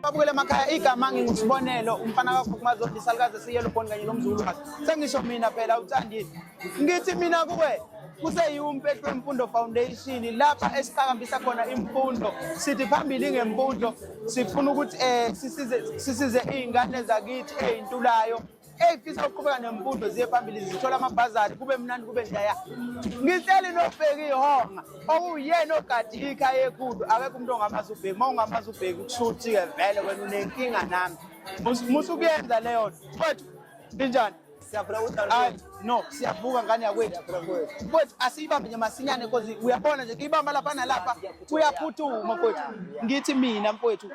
abukele emakhaya igama ngingusibonelo umfana kakhukhumazi odisalukazi esiyelo boni kanye nomzulu sengisho mina phela uthandi ngithi mina kuwe kuseyiwumpethu wemfundo foundation lapha esiqhakambisa khona imfundo sithi phambili ngemfundo sifuna ukuthi um sisize iy'ngane zakithi ey'ntulayo Hey fisa ukuqhubeka nemfundo ziye phambili zithola amabhazari kube mnandi kube njaya. Ngitsheli nobheki ihonga okuyena ogadi ikhaya ekhulu akekho umuntu ongamazi ubheki uma ungamazi ubheki kushuthi ke vele wena unenkinga nami. Musa ukuyenza leyo nto. Mfowethu injani? Siyaphila ukuthi no siyavuka ngane yakwethu kwethu asiyibambe nje masinyane because uyabona nje kuyibamba lapha nalapha kuyaphuthuma kwethu ngithi mina mfowethu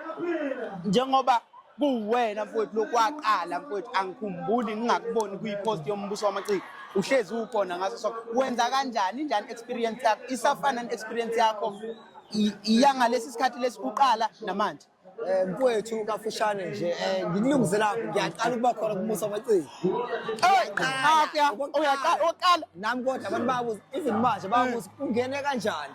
njengoba kuwena mfowethu lokwaqala mfowethu angikhumbuli ngingakuboni kuyipost yombuso wamaciko uhlezi ukhona ngaso so wenza kanjani njani experience yakho isafana experience yakho iyangalesi sikhathi lesikuqala namanje eh, mfowethu kafushane nje eh, ngikulungisela ngiyaqala ukuba khona kumusa amaciko uyaqala nami kodwa abantu bayabuza even manje bayabuza ungene kanjani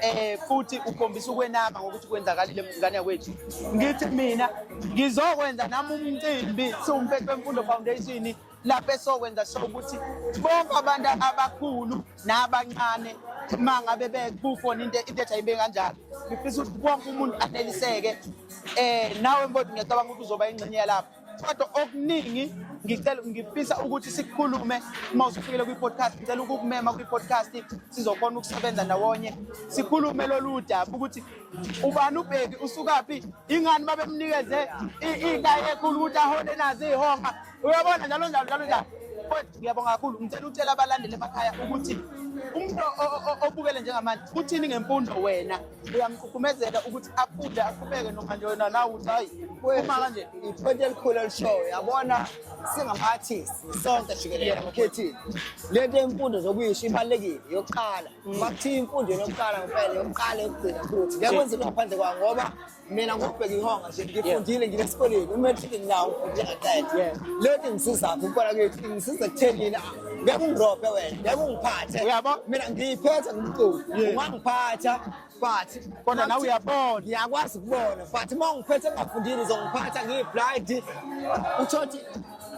eh futhi ukhombisa ukwenaba ngokuthi kwenzakalile mngane yakwethu ngithi mina ngizokwenza nami umcimbi siwumfethu wemfundo foundation lapho esokwenza sho ukuthi bonke abantu abakhulu nabancane uma ngabe bekufona into into ethi ayibe kanjalo ngifisa ukuthi wonke umuntu aneliseke eh nawe mbodi ngiyacabanga ukuthi uzoba ingxenye yalapho kodwa okuningi ngicela ngifisa ukuthi sikhulume uma usufikele kwi-podcast ngicela ukukumema kwi-podcast sizokhona ukusebenza ndawonye sikhulume lolu daba ukuthi ubani ubheki usukaphi ingani babemnikeze iy'ndayi ekhulu ukuthi ahole nazo iy'honga uyabona njalo njalo njalo njalo kodwa ngiyabonga kakhulu ngicela ukutshela abalandeli emakhaya ukuthi umuntu obukele njengamanje uthini ngemfundo wena uyamkhukhumezela ukuthi afunde aqhubeke noma nje wena nawe ukuthi hayi uma kanje iphonto elikhulu elishoyo yabona singama-artist sonke jikelele amakhethile le nto yemfundo zokuyisho ibalulekile yokuqala mm. bakuthiya imfundo yokuqala ngempela yokuqala yokugcina futhi ngeke kwenze into ngaphandle kwayo ngoba mina ngokubheka ihonga nje ngifundile ngile esikoleni umatric nginawo ngifundile ngaqeda le nto ingisizaphi ukuqala kwethu ingisiza ekuthenini ngeke ungirobhe wena ngeke ungiphathe uyabo mina ngiyiphetha ngumculo ungangiphatha but kodwa nawe uyabona ngiyakwazi ukubona but uma ungiphethe ngafundile uzongiphatha ngiyiblind uthothi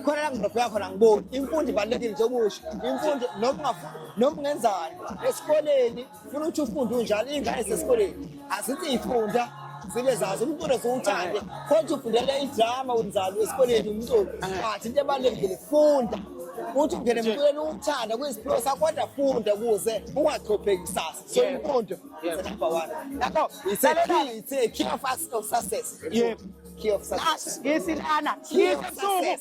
khona la ngirobheka khona ngiboni imfundo ibalulekile njengoba usho imfundo noma ungafuni noma ungenzani esikoleni funa ukuthi ufunde unjalo iy'ngane zesikoleni azithi ifunda zibe zazi umculo ziwuthande kodwa ufundela idrama unjalo esikoleni umculo but into ebalulekile funda uthi ungene emculweni uwuthanda kuyisiphiwo sakho kodwa funda kuze ungachopheki kusasa so imfundo is number one yabo it's a key it's a key of us of success yebo key of success ngisilana key of success